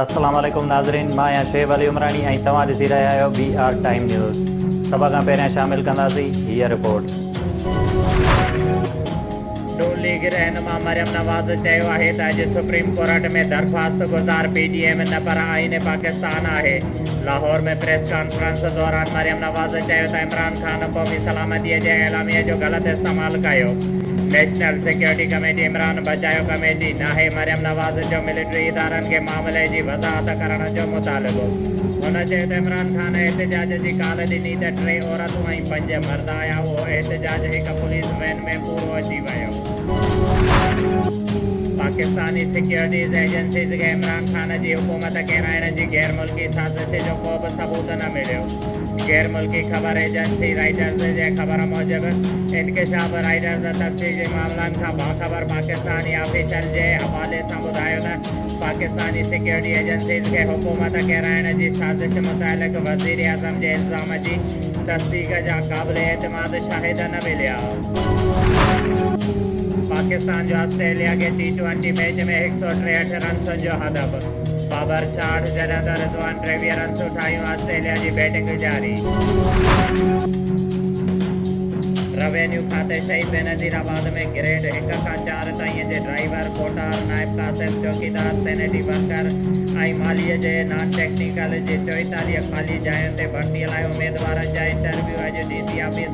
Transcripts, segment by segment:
السلام عليڪم ناظرين مان آهيان شعيب علي عمراڻي ۽ توهان ڏسي رهيا آهيو بي آر ٽائيم نيوز سڀ کان پهريان شامل ڪنداسين هيء رپورٽ. ن ليگ رهنما مريم نواز چيو آهي ته اڄ سپريم ڪورٽ ۾ درخواست گذار پي ڊي ايم نه پر آئين پاڪستان آهي. لاهور ۾ پريس ڪانفرنس دوران مريم نواز چيو ته عمران خان قومي سلامتي جي اعلاميه جو غلط استعمال ڪيو، نيشنل سيڪيورٽي ڪميٽي عمران بچايو ڪميٽي ناهي، مريم نواز جو ملٽري ادارن کي معاملي جي وضاحت ڪرڻ جو مطالبو. هن چيو ته عمران خان احتجاج جي ڪال ڏني ته ٽي عورتون ۽ پنج مرد آيا، اهو احتجاج هڪ پوليس وين ۾ پورو اچي ويو. پاڪستاني سيڪيورٽيز ايجنسيز کي عمران خان جي حڪومت ڪيرائڻ جي غير ملڪي سازش جو ڪو به ثبوت نه مليو. غير ملڪي خبر ايجنسي رائٽرز جي خبر موجب، انڪشاف رائٽرز تفصيلي معاملن کان باخبر پاڪستاني آفيشل جي حوالي سان ٻڌايو ته پاڪستاني سيڪيورٽي ايجنسيز کي حڪومت ڪيرائڻ جي سازش متعلق وزيراعظم جي الزام جي تصديق جا قابل اعتماد شاهد نه مليا. پاڪستان جو آسٽريليا کي ٽي ٽوئنٽي ميچ ۾ هڪ سؤ ٽيهٺ رنسن جو هدف بابر ڇاهٺ جڏهن ته رضوان ٽيويهه رنسون ٺاهيون آسٽريليا جي بيٽنگ جاري روينيو کاتي شهيد بينظير آباد ۾ گريڊ هڪ کان چار تائين جي ڊرائيور، ڪوٽار، نائب قاصد، چوڪيدار، سينيٽري ورڪر ۽ مالي جي نان ٽيڪنيڪل جي چوئيتاليهه خالي جاين تي ڀرتي لاء اميدوارن جا انٽرويو اڄ ڊي سي آفيس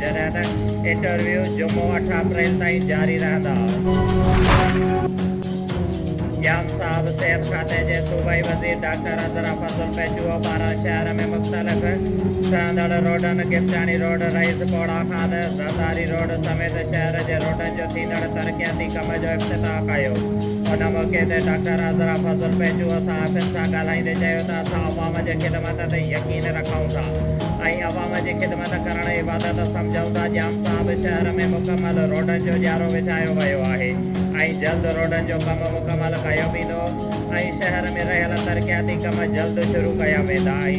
جڏهن ته انٽرويو جمعو اٺ اپريل تائين جاري رهندا. قيام صاحب صحت کاتي جي صوبائي وزير ڊاڪٽر عذرا فضل پيچوء پاران شهر ۾ مختلف ٺهندڙ روڊن گفٽاڻي روڊ، رئيس پوڙا خان، زرداري روڊ سميت شهر جي روڊن جو ٿيندڙ ترقياتي ڪم جو افتتاح ڪيو. ان موقعي تي ڊاڪٽر عذرا فضل پيچوء صحافين سان ڳالهائيندي چيو ته اسان عوام جي خدمت تي يقين رکون ٿا ۽ عوام جي خدمت ايجاد ڪرڻ عبادت سمجهون ٿا ڄام صاحب شهر ۾ مڪمل روڊن جو ڄارو وڇايو ويو آهي ۽ جلد روڊن جو ڪم مڪمل ڪيو ويندو ۽ شهر ۾ رهيل ترقياتي ڪم جلد شروع ڪيا ويندا ۽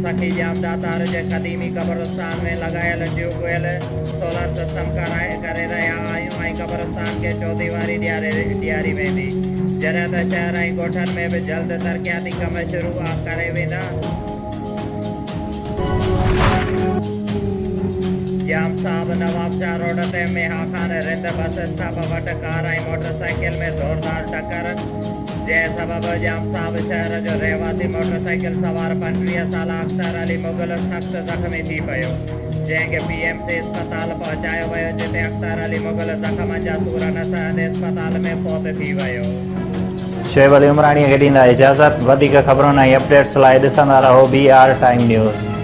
سخي ڄام داتار جي قديمي قبرستان ۾ لڳايل ٽيوب ويل سولر سسٽم ڪرائي ڪري رهيا آهيون ۽ قبرستان کي چوديواري ڏياري ڏياري ويندي جڏهن ته شهر ۽ ڳوٺن ۾ به جلد ترقياتي ڪم شروع ڪري ويندا. ڄام صاحب نوابشاهه روڊ تي ميها خان رٿ بس اسٽاپ وٽ ڪار ۽ موٽر سائيڪل ۾ زوردار ٽڪر جنهن سبب ڄام صاحب شهر جو رهواسي موٽر سائيڪل سوار پنجويهه سالا اختر علي مغل سخت زخمي ٿي پيو جنهن کي پي ايم سي اسپتال پهچايو ويو جتي اختر علي مغل زخمن جا سور نه سهندي اسپتال ۾ فوت ٿي ويو. شعيب علي عمراڻي کي ڏيندا اجازت وڌيڪ خبرن ۽ اپڊيٽس لاء ڏسندا رهو بي آر ٽائيم نيوز.